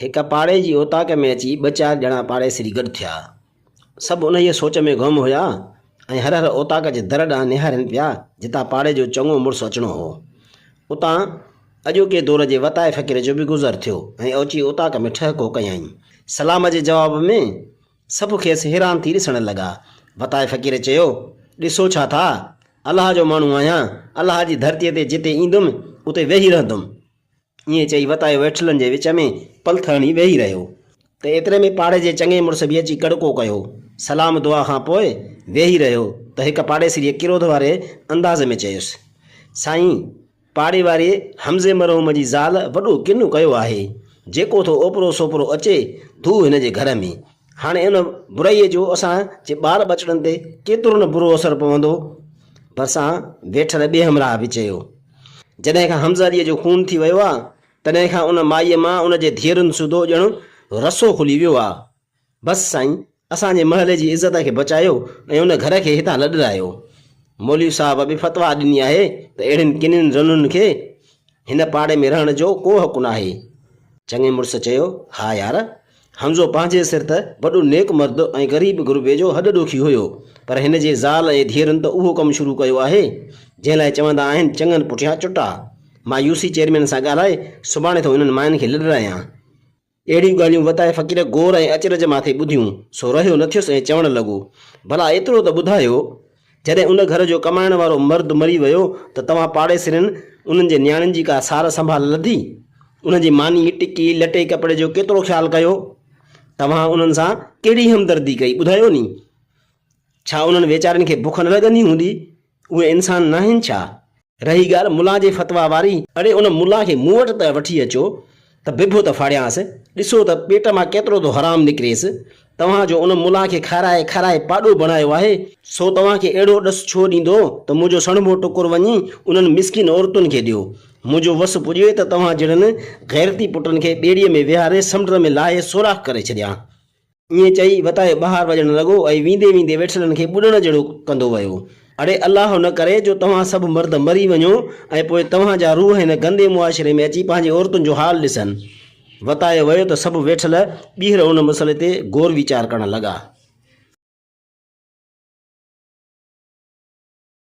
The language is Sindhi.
هڪ پاڙي جي اوطاق ۾ اچي ٻه چار ڄڻا پاڙيسري گڏ ٿيا. سڀ انهيء سوچ ۾ گم هيا ۽ هر هر اوطاق جي در ڏانهن نهارين پيا جتان پاڙي جو چڱو مڙس اچڻو هو. اتان اڄوڪي دور جي وتائي فقير جو به گذر ٿيو ۽ اوچي اوطاق ۾ ٺهڪو ڪيائين. سلام جي جواب ۾ سڀ کيس حيران ٿي ڏسڻ لڳا. وتائي فقير چيو، ڏسو ڇا ٿا؟ الله جو ماڻهو آهيان، الله جي ڌرتيء تي جتي ايندم، اتي ويهي رهندم. ائين چئي وتايو ويٺلن جي وچ ۾ پلٿ هڻي ويهي رهيو ته ايتري ۾ پاڙي جي چڱي مڙس به اچي ڪڙڪو ڪيو. سلام دعا کان پوء ويهي رهيو ته هڪ پاڙيسريء ڪروڌ واري انداز ۾ چيس، سائين! پاڙي واري حمزي مرحوم جي زال وڏو ڪنو ڪيو آهي. جيڪو ٿو اوپرو سوپرو اچي ڌو هن جي گهر ۾. هاڻي ان برائيء جو اسان جي ٻار ٻچڙن تي ڪيترو نه برو اثر پوندو. ڀرسان ويٺل ٻئي همراهه به چيو. جڏهن کان حمزه عليء جو خون ٿي ويو آ، تڏهن کان ان مائيء مان ان جي ڌيئرن سوڌو ڄڻ رسو کلي ويو آ. بس سائين، اسان جي محلي جي عزت کي بچايو ۽ ان گهر کي هتان لڏرايو. مولوي صاحب به فتويٰ ڏني آهي ته اهڙين ڪنين رنن کي هن پاڙي ۾ رهڻ جو ڪو حق ناهي. چڱي مڙس چيو، ها يار! حمزو پنهنجي سر ته وڏو نيڪ مرد ۽ غريب غربي جو هڏ ڏوکي هيو، پر هن جي زال ۽ ڌيئرن ته اهو ڪم شروع ڪيو آهي، جنهن لاء چوندا آهن چڱن پٺيان چٽا. مان يو سي چيئرمين سان ڳالهائي سڀاڻي ٿو انهن ماين کي لڏرايان. اهڙيون ڳالهيون وتائي فقير غور ۽ اچرج ماٿي ٻڌيون، سو رهيو نه ٿيس ۽ چوڻ لڳو، ڀلا ايترو ته ٻڌايو! جڏهن ان گهر جو ڪمائڻ وارو مرد مري ويو ته توهان پاڙيسرين انهن جي نياڻين جي ڪا سار سنڀال لڌي؟ انهن جي ماني، ٽڪي، لٽي ڪپڙي جو ڪيترو خيال ڪيو؟ توهان انهن سان ڪهڙي همدردي ڪئي، ٻڌايو ني؟ ڇا انهن ويچارين کي بک نه لڳندي هوندي؟ اهي انسان ناهن ڇا؟ رهي ڳالهه ملان جي فتويٰ واري. اڙي ان ملان کي مون وٽ ته وٺي اچو ته ڀڀو ته ڦاڙيانس، ڏسو ته پيٽ مان ڪيترو ٿو حرام نڪريس. توهان جو ان ملان کي کارائي کارائي پاڏو بڻايو آهي. سو توهان کي اهڙو ڏس ڇو ڏيندو ته منهنجو سڻڀو ٽڪر وڃي انهن مسڪين عورتن کي ڏيو. منهنجو وس پڄي ته توهان جهڙن غيرتي پٽن کي ٻيڙيء ۾ ويهاري سمنڊ ۾ لاهي سوراخ ڪري ڇڏيان. ائين چئي وتايو ٻهار وڄڻ لڳو ۽ ويندي ويندي ويٺلن کي ٻڏڻ جهڙو ڪندو ويو. اڙي الله نه ڪري جو توهان سڀ مرد مري وڃو ۽ پوء توهان جا روح هن گندي معاشري ۾ اچي پنهنجي عورتن جو حال ڏسن. وتايو ويو ته سڀ ويٺل ٻيهر ان مسئلي تي غور ويچار ڪرڻ لڳا.